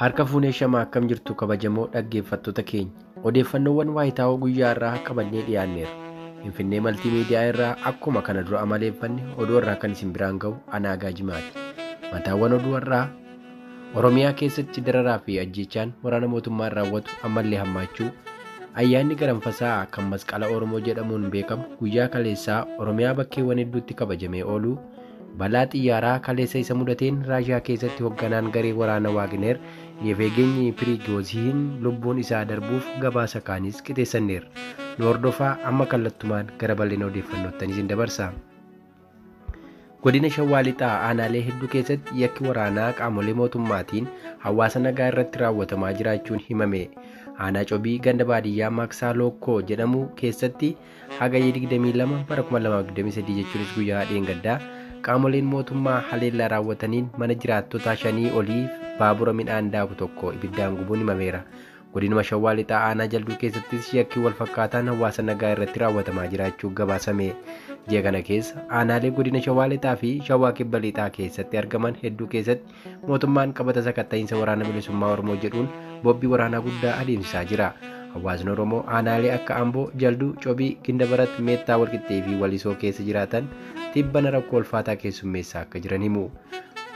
Harka fuunee shamaa akkam jirtu kabajamoo dhaggeeffattoota keenya. Odeeffannoowwan waayitaawoo guyyaa irraa qabannee dhiyaanneera. Finfinnee Maltii Miidiyaa irraa akkuma kana dura amaleeffanne oduu irraa kan isin biraan ga'u anaa gaajimaati. Mataawwan oduu irraa Oromiyaa keessatti dararaa fi ajjeechaan waraana mootummaan raawwatu ammallee hammaachuu ayyaanni garanfasaa kan masqala Oromoo jedhamuun beekamu guyyaa kaleessaa Oromiyaa bakkeewwan hedduutti kabajamee ooluu Balaa xiyyaaraa kaleessa isa mudateen Raashiyaa keessatti hogganaan garee waraana Waagineer Yeveegenyi Piriigoozihin lubbuun isaa darbuuf gabaasa kaanis qixeessanneerra. Nu hordofaa amma kallattumaan gara bal'ina odeeffannoottanii isin dabarsa. Godina Shawaa Lixaa aanaalee hedduu keessatti yakki waraanaa qaamolee mootummaatiin hawaasa nagaa irratti raawwatamaa jiraachuun himame. Aanaa Cobii ganda baadiyyaa Maaksaa Lookkoo jedhamu keessatti Hagayya 22 bara 2023 jechuunis guyyaa dheengaddaa qaamoleen mootummaa haleellaa raawwataniin mana jiraattotaa shanii olii baabura midhaan daaku tokko ibiddaan gubuun himameera. Godinuma Shawaa Lixaa Aanaa Jalduu keessattis yakki wal fakkaataan hawaasa nagaa irratti raawwatamaa jiraachuu gabaasame. Ji'a kana keessa aanaalee godina Shawaa Lixaa fi Shawaa Kibba Lixaa keessatti argaman hedduu keessatti Mootummaan qabata sakatta'iinsa waraana bilisummaa Oromoo jedhuun bobbi waraanaa guddaa adeemsisaa jira. Hawaasni Oromoo aanaalee akka Amboo, Jalduu, Cobii, Gindabarat, Meettaa Walqixxee fi Walisoo keessa jiraatan tibbana rakkoo ulfaataa keessummeessaa akka jiran himu.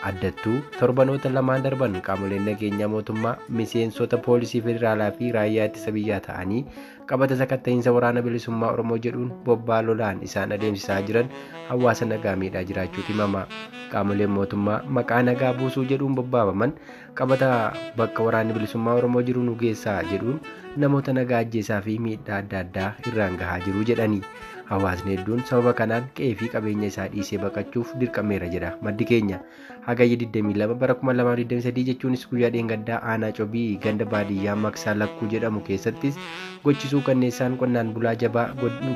Addattuu torbanoota lamaan darban qaamoleen nageenyaa mootummaa miseensota poolisii federaalaa fi raayyaa ittisa biyyaa ta'anii qabata sakatta'iinsa waraana bilisummaa Oromoo jedhuun bobbaa lolaan isaan adeemsisaa jiran hawaasa nagaa miidhaa jiraachuu himama. Qaamoleen mootummaa maqaa nagaa buusuu jedhuun bobbaafaman qabata bakka waraanni bilisummaa Oromoo jiru nu geessaa jedhuun namoota nagaa ajjeesaa fi miidhaa adda addaa irraan gahaa jiru jedhani. Hawaasni hedduun sababa kanaan qe'ee fi qabeenya isaa dhiisee baqachuuf dirqameera jedha maddi keenya. Hagayya 22 bara 2023 jechuunis guyyaa dheengaddaa aanaa cobii ganda baadiyyaa maksaa lakkuu jedhamu keessattis gochisuu kanneessaan qonnaan bulaa jabaa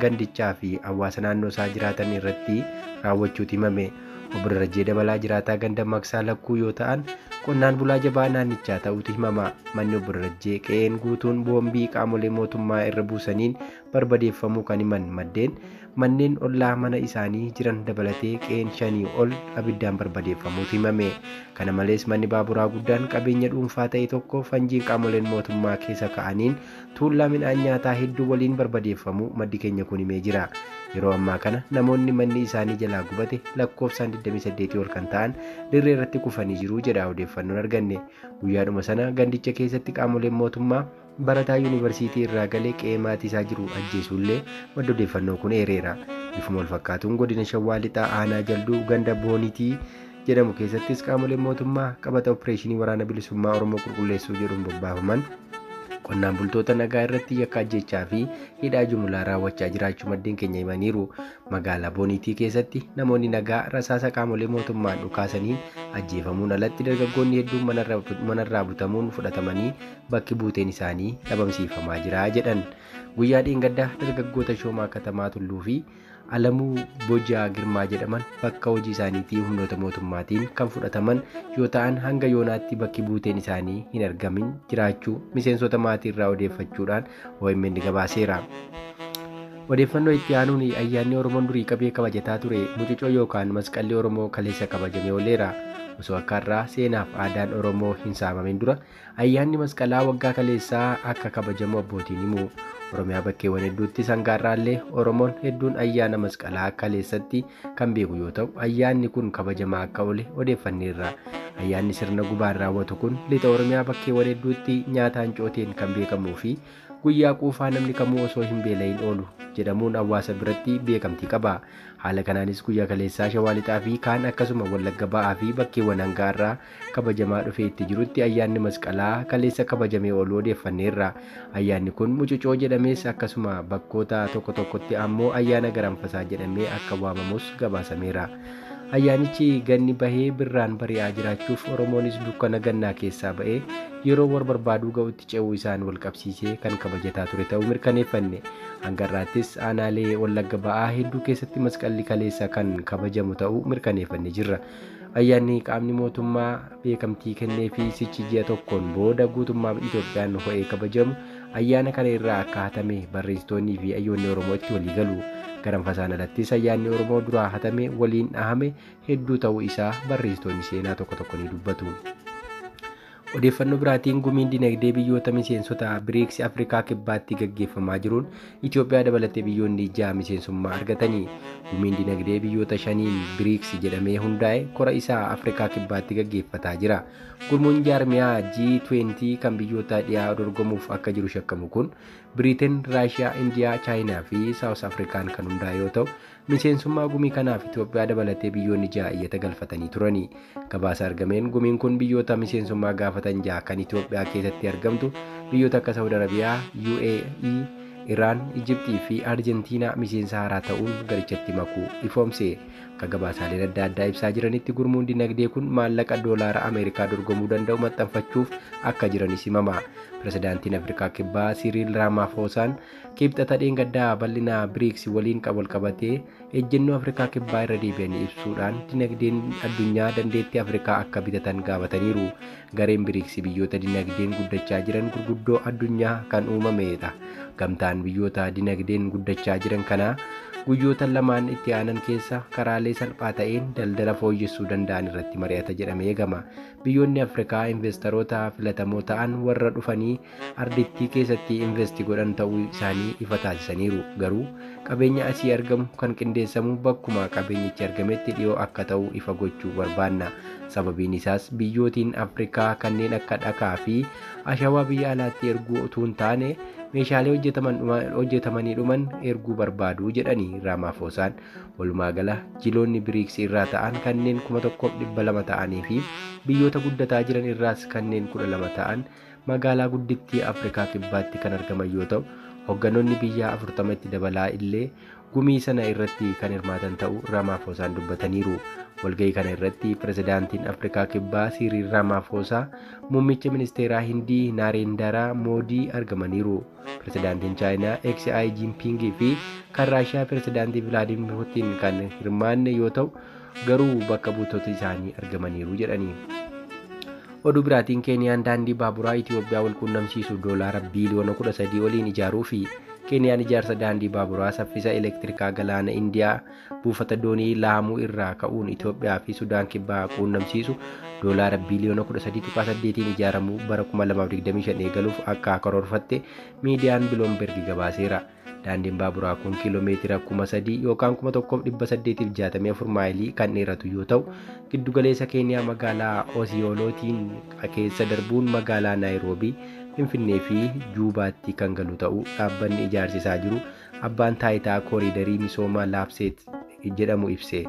gandichaa fi hawaasa naannoo isaa jiraatan irratti raawwachuuti himame. Obbo Darajjee Dabalaa jiraataa ganda maksaa lakkuu yoo ta'an qonnaan bulaa jabaa naannichaa ta'uutu himama. Manni obbo Darajjee qe'een guutuun boombii qaamolee mootummaa irra buusaniin barbadeeffamuu kan himan maddeen, manneen ollaa mana isaanii jiran dabalatee qe'een shanii ol abiddaan barbadeeffamuutu himame. Kana malees manni baaburaa guddaan qabeenya dhuunfaa ta'e tokko fanjiin qaamoleen mootummaa keessa ka'aniin tuullaa midhaan nyaataa hedduu waliin barbadeeffamuu maddi keenya kun himee jira. Yeroo ammaa kana namoonni manni isaanii jalaa gubate lakkoofsaan 28 ol kan ta'an dirree irratti kufanii jiru jedha odeeffannoon arganne. Guyyaadhuma sana gandicha keessatti qaamoleen mootummaa Barataa Yuunivarsiitii irraa gale qe'ee maatii isaa jiru ajjeesuullee maddi odeeffannoo kun eereera. Bifuma walfakkaatuun godina Shawaa Lixaa aanaa Jalduu ganda Boonitii jedhamu keessattis qaamoleen mootummaa qabata oppireeshinii waraana bilisummaa Oromoo qulqulleessuu jedhuun bobbaafaman qonnaan bultoota nagaa irratti yakka ajjeechaa fi hidhaa jumulaa raawwachaa jiraachuu maddeen keenya himaniiru. Magaalaa Boonitii keessatti namoonni nagaa rasaasa qaamolee mootummaan dhukaasaniin ajjeefamuun alatti dargaggoonni hedduun manarraa butamuun fudhatamanii bakki buuteen isaanii dhabamsiifamaa jira jedhan. Guyyaa dheengaddaa dargaggoota Shoomaa Katamaa Tulluu fi Alamuu Bojaa Girmaa jedhaman bakka hojii isaaniitii humnoota mootummaatiin kan fudhataman yoo ta'an hanga yoonaatti bakki buuteen isaanii hin argamin jiraachuu miseensota maatii irraa odeeffachuudhaan OMN gabaaseera. Odeeffannoo itti aanuun ayyaanni Oromoon durii qabee kabajataa ture mucucoo yookaan masqalli Oromoo kaleessa kabajamee ooleera. Osoo akka har'aa seenaaf aadaan Oromoo hin saamamin dura Ayyaanni Masqalaa waggaa kaleessaa akka kabajamu abbootiin himu. Oromiyaa bakkeewwan hedduuttis hanga har'aallee Oromoon hedduun ayyaana Masqalaa kaleessatti kan beeku yoo ta'u, ayyaanni kun kabajamaa akka oole odeeffanneerra. Ayyaanni sirna gubaan raawwatu kun lixa Oromiyaa bakkeewwan hedduutti nyaataan cooteen kan beekamuu fi guyyaa quufaa namni kamuu osoo hin beela'in oolu jedhamuun hawaasa biratti beekamtii qaba. Haala kanaanis guyyaa kaleessaa Shawaa Lixaa fi kaan akkasuma Wallagga Ba'aa fi bakkeewwan hanga har'aa kabajamaa dhufee itti jirutti ayyaanni masqalaa kaleessa kabajamee ooluu odeeffanneerra. Ayyaanni kun mucucoo jedhamees akkasuma bakkoota tokko tokkotti ammoo ayyaana garanfasaa jedhamee akka waamamus gabaasameera. Ayyaanichi ganni bahee birraan bari'aa jiraachuuf Oromoonis dukkana gannaa keessaa ba'ee yeroo wal barbaaduu ga'utti ce'uu isaan wal qabsiisee kan kabajataa ture ta'uu mirkaneeffanne. Hanga irraattis aanaalee Wallagga ba'aa hedduu keessatti masqalli kaleessa kan kabajamu ta'uu mirkaneeffanne jirra. Ayyaanni qaamni mootummaa beekamtii kenneefi sichi ji'a tokkoon booda guutummaa Itoophiyaan ho'ee kabajamu ayyaana kana irraa akka hatame barreessitoonnii fi ayyoonni Oromoo itti walii galu. Garanfasaan alattis ayyaanni Oromoo duraa hatame waliin dhahame hedduu ta'uu isaa barreessitoonni seenaa tokko tokko ni dubbatu. Odeeffannoo biraatiin gumiin dinagdee biyyoota miseensota Biriiksi Afrikaa Kibbaatti gaggeeffamaa jiruun Itoophiyaa dabalatee biyyoonni ja'a miseensummaa argatanii gumiin dinagdee biyyoota shaniin Biriiksi jedhamee hundaa'e kora isaa Afrikaa Kibbaatti gaggeeffataa jira. Gurmuun jaarmiyaa G20 kan biyyoota dhiyaa dorgomuuf akka jiru shakkamu kun Biriiteen, Raashiyaa, Indiyaa, Chaayinaa fi Saawus Afrikaan kan hundaa'e yoo ta'u Miseensummaa gumii kanaaf Itoophiyaa dabalatee biyyoonni ja'a iyyata galfatanii turani. Gabaasa argameen gumiin kun biyyoota miseensummaa gaafatan ja'a kan Itoophiyaa keessatti argamtu biyyoota akka Saawud Arabiyaa, UAE, Iraan, Ijiptii fi Arjentiinaa miseensa haaraa ta'uun garichatti makuu ifoomse. Akka gabaasaaleen adda addaa ibsaa jiranitti gurmuun dinagdee kun maallaqa doolaara Ameerikaa dorgomuu danda'u maxxanfachuuf akka jiranis himama. Pirezidaantiin Afrikaa Kibbaa Siriil Raamaafoosaan Kibxata dheengaddaa bal'ina BRICS waliin qabu walqabatee ejjennoo Afrikaa Kibbaa irra deebi'anii ibsuudhaan dinagdeen addunyaa dandeettii Afrikaa akka bitatan gaafataniiru. Gareen BRICS biyyoota dinagdeen guddachaa jiran gurguddoo addunyaa kan uumamedha. Gamtaan biyyoota dinagdeen guddachaa jiran kanaa guyyoota lamaan itti aanan keessa karaalee salphaa ta'een daldala fooyyessuu danda'an irratti mari'ata jedhamee eegama. Biyyoonni Afrikaa investaroota filatamoo ta'an warra dhufanii ardittii keessatti investi godhan ta'uu isaanii ifa taasisaniiru. Garuu qabeenya asii argamu kan qindeessamu bakkuma qabeenyichi argametti dhiyoo akka ta'u ifa gochuu barbaanna. Sababiin isaas biyyootiin Afrikaa kanneen akka dhakaa fi ashawaa biyya alaatti erguu utuu hin taane meeshaalee hojjetaman dhuma- hojjetamanii dhuman erguu barbaadu jedhani Raamaafoosaan. Walumaa gala jiloonni Biriiks irraa ta'an kanneen 1200 ta'anii fi biyyoota guddataa jiran irraas kanneen 12 ta'an magaalaa guddittii Afrikaa Kibbaatti kan argaman yoo ta'u, hogganoonni biyyaa 40 itti dabalaa illee gumii sana irratti kan hirmaatan ta'uu Raamaafoosaan dubbataniiru. Walga'ii kana irratti pirezidaantiin Afrikaa Kibbaa Siiriil Raamaafoosaa, muummicha ministeeraa Hindii Naareendaraa Moodii argamaniiru. Pirezidaantiin Chaayinaa XI Jinpiingii fi kan Raashiyaa pirezidaantii Vilaadiimir Putiin kan hirmaanne yoo ta'u, garuu bakka buutota isaanii argamaniiru jedhanii. Oduu biraatiin Keeniyaan daandii baaburaa Itiyoophiyaa wal quunnamsiisu doolaara biiliyoona 13 oliin ijaaruu fi Keeniyaan ijaarsa daandii baaburaa saffisa elektirikaa galaana Indiyaa buufata doonii Laamuu irraa ka'uun Itiyoophiyaa fi Sudaan Kibbaa quunnamsiisu doolaara biiliyoona 13.8n ijaaramuu bara 2025 eegaluuf akka karoorfatte miidiyaan Biloomberg gabaaseera. Daandiin baaburaa kun kiiloomeetira 3,000 yookaan 1,864 maayilii kan dheeratu yoo ta'u, giddugaleessa Keeniyaa magaalaa Osiyoolootiin keessa darbuun magaalaa Naayiroobii, Finfinnee fi Juubaatti kan galu ta'uu dhaabbanni ijaarsisaa jiru Abbaan Taayitaa Kooriidarii Misooma Laafseet jedhamu ibse.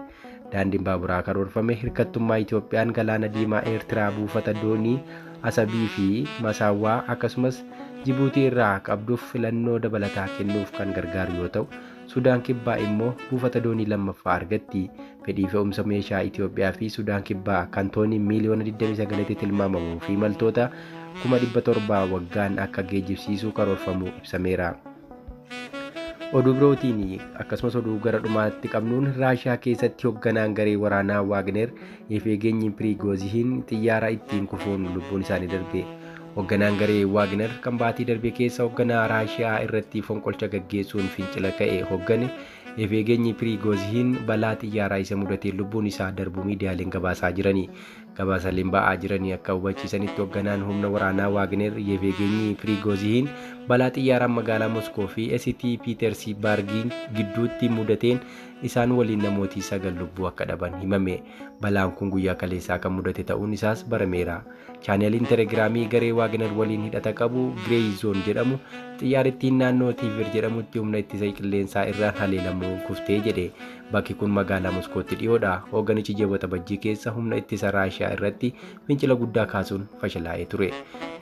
Daandiin baaburaa karoorfame hirkattummaa Itoophiyaan galaana diimaa Eertiraa buufata doonii Asabii fi Masaawwaa akkasumas Jibuutii irraa qabduuf filannoo dabalataa kennuuf kan gargaaru yoo ta'u, Sudaan Kibbaa immoo buufata doonii lammaffaa argatti. Fedhii fe'umsa meeshaa Itoophiyaa fi Sudaan Kibbaa kan toonii miiliyoona 29tti tilmaamamuu fi imaltoota 700,000 waggaan akka geejjibsiisu karoorfamuu ibsameera. Oduu birootiin akkasumas oduu gara dhumaatti qabnuun Raashiyaa keessatti hoogganaan garee waraanaa Waagner Yefeegeenyi Piriigoozihiin xiyyaara ittiin kufuun lubbuun isaanii darbe. Hoogganaan garee Waagner kan baatii darbe keessa hoogganaa Raashiyaa irratti fonqolcha gaggeessuun fincila ka'e hooggane Yefeegeenyi Piriigoozihiin balaa xiyyaaraa isa mudateen lubbuun isaa darbu miidiyaaleen gabaasaa jirani. Gabaasaaleen ba'aa jiranii akka hubachiisanitti hogganaan humna waraanaa Waagner Yevgeenyi Piriigoozihiin balaa xiyyaaraan magaalaa Moskoo fi ST Piitersibaargiin gidduutti mudateen isaan waliin namooti sagal lubbuu akka dhaban himame. Balaan kun guyyaa kaleessaa kan mudate ta'uun isaas barameera. Chaanaliin Telegiraamii garee Waagner waliin hidhata qabu Grey Zone jedhamu xiyyaarittiin naannoo Tiiver jedhamutti humna ittisa qilleensaa irraan haleelamuu kuftee jedhe. Bakki kun magaalaa Moskootti dhiyoodha. Hooganichi ji'a Waxabajjii keessa humna ittisa Raashiyaa irratti fincila guddaa kaasuun fashalaa'ee ture.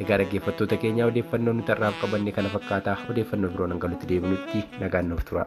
Egaa dhaggeeffattoota keenya odeeffannoon nuti har'aaf qabanne kana fakkaata. Odeeffannoo biroon hanga nuti deebinutti nagaan nuuf tura.